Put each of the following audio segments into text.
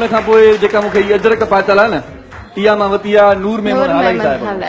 ان کان پوء جيڪا مون کي هي اجرڪ پاتل آهي نه، اها مان وتي آهي نور ميمڻ هالائي صاحب کان.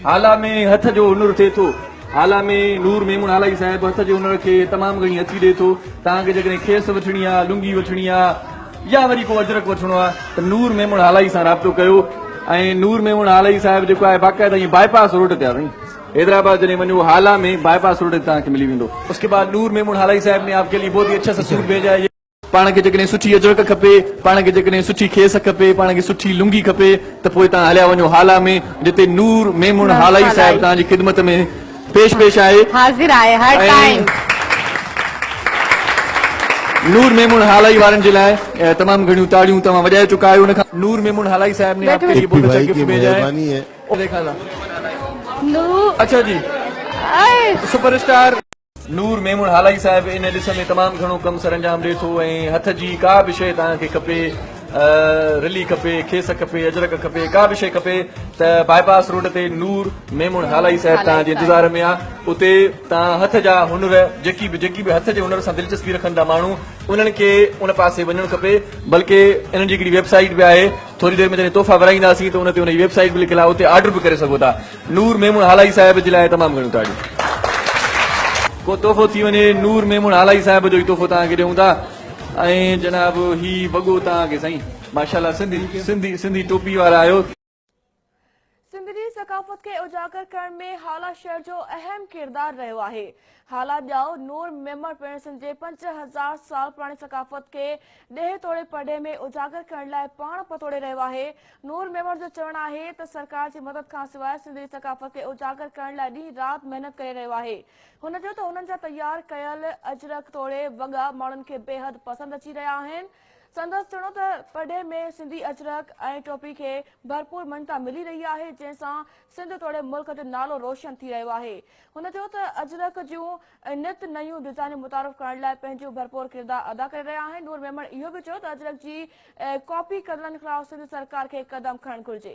هالا ۾ هٿ جو هنر ٿئي ٿو. هالا ۾ نور ميمڻ هالائي صاحب هٿ جي هنر کي تمام گهڻي اچي ڏئي ٿو. توهان کي جيڪڏهن کيس وٺڻي آهي، لنگي وٺڻي آهي يا وري ڪو اجرڪ وٺڻو آهي ته نور ميمڻ هالائي سان رابطو ڪيو. ۽ نور ميمڻ هالائي صاحب جيڪو آهي باقاعده ائين باء پاس روڊ تي آهي سائين. حيدرآباد جڏهن وڃو هالا ۾ باء پاس روڊ تي توهان کي ملي ويندو. اس ڪي بعد نور ميمڻ هالائي صاحب ني آپ ڪي ليي بهت هي اچھا سا سوٽ ڀيجا هي. پاڻ کي جيڪڏهن سٺي اجرڪ کپي، پاڻ کي جيڪڏهن سٺي کيس کپي، پاڻ کي سٺي لنگي کپي ته پوء توهان هليا وڃو هالا ۾ جتي نور ميمڻ هالائي صاحب توهان جي خدمت ۾ پيش پيش آهي. حاضر آهي هر ٽائيم. نور ميمڻ هالائي وارن جي لاء تمام گهڻيون تاڙيون توهان وڄائي چڪا آهيو ان کان نور ميمڻ هالائي صاحب ني آپڪي لئي بهت اڇا گفٽ ڀيجا هي. اڇا جي سپر اسٽار. نور ميمڻ هالائي صاحب ان ڏس ۾ تمام گهڻو ڪم سرانجام ڏي ٿو ۽ هٿ جي ڪا به شيء توهان کي کپي رلي کپي کيس کپي اجرڪ کپي ڪا به شيء کپي ته باء پاس روڊ تي نور ميمڻ هالائي صاحب توهان جي انتظار ۾ آ اتي توهان هٿ جا هنر جيڪي به جيڪي به هٿ جي هنر سان دلچسپي رکن ٿا ماڻهو انهن کي ان پاسي وڃڻ کپي بلڪه انهن جي هڪڙي ويب سائيٽ به آهي ٿوري دير ۾ جڏهن تحفا ورهائينداسين ته ان تي ان جي ويب سائيٽ به لکيل آهي اتي آرڊر به ڪري سگهو ٿا نور ميمڻ هالائي صاحب جي لاء تمام گهڻيون تاڙيون. ڪو تحفو ٿي وڃي نور ميمڻ هالائي صاحب جو ئي تحفو توهان کي ڏيون ٿا ۽ جناب هي وڳو توهان کي سائين ماشاءالله سنڌي سنڌي سنڌي ٽوپي وارا آهيو. سنڌ جي ثقافت کي اجاگر ڪرڻ ۾ هالا شهر جو اهم ڪردار رهيو آهي. هالا ڄائو نور ميمڻ پڻ سنڌ جي پنج هزار سال پراڻي ثقافت کي ڏيهه توڙي پرڏيهه ۾ اجاگر ڪرڻ لاء پاڻ پتوڙي رهيو آهي. نور ميمڻ جو چوڻ آهي ته سرڪار جي مدد کان سواء سنڌي ثقافت کي اجاگر ڪرڻ لاء ڏينهن رات محنت ڪري رهيو آهي. هن چيو ته هنن جا تيار ڪيل اجرڪ توڙي وڳا ماڻهن کي بيحد پسند اچي رهيا آهن. سندس چوڻو ته پرڏيهه ۾ سنڌي اجرڪ ۽ ٽوپي کي ڀرپور مڃتا ملي رهي آهي جنهن سان سنڌ توڙي ملڪ جو نالو روشن ٿي رهيو آهي. هن چيو ته اجرڪ جون نت نيون ڊزائنون متعارف ڪرائڻ لاء پنهنجو ڀرپور ڪردار ادا ڪري رهيا آهن نور ميمڻ اهو به چيو ته اجرڪ جي ڪاپي ڪندڙن خلاف سنڌ سرڪار کي قدم کڻڻ گهرجي.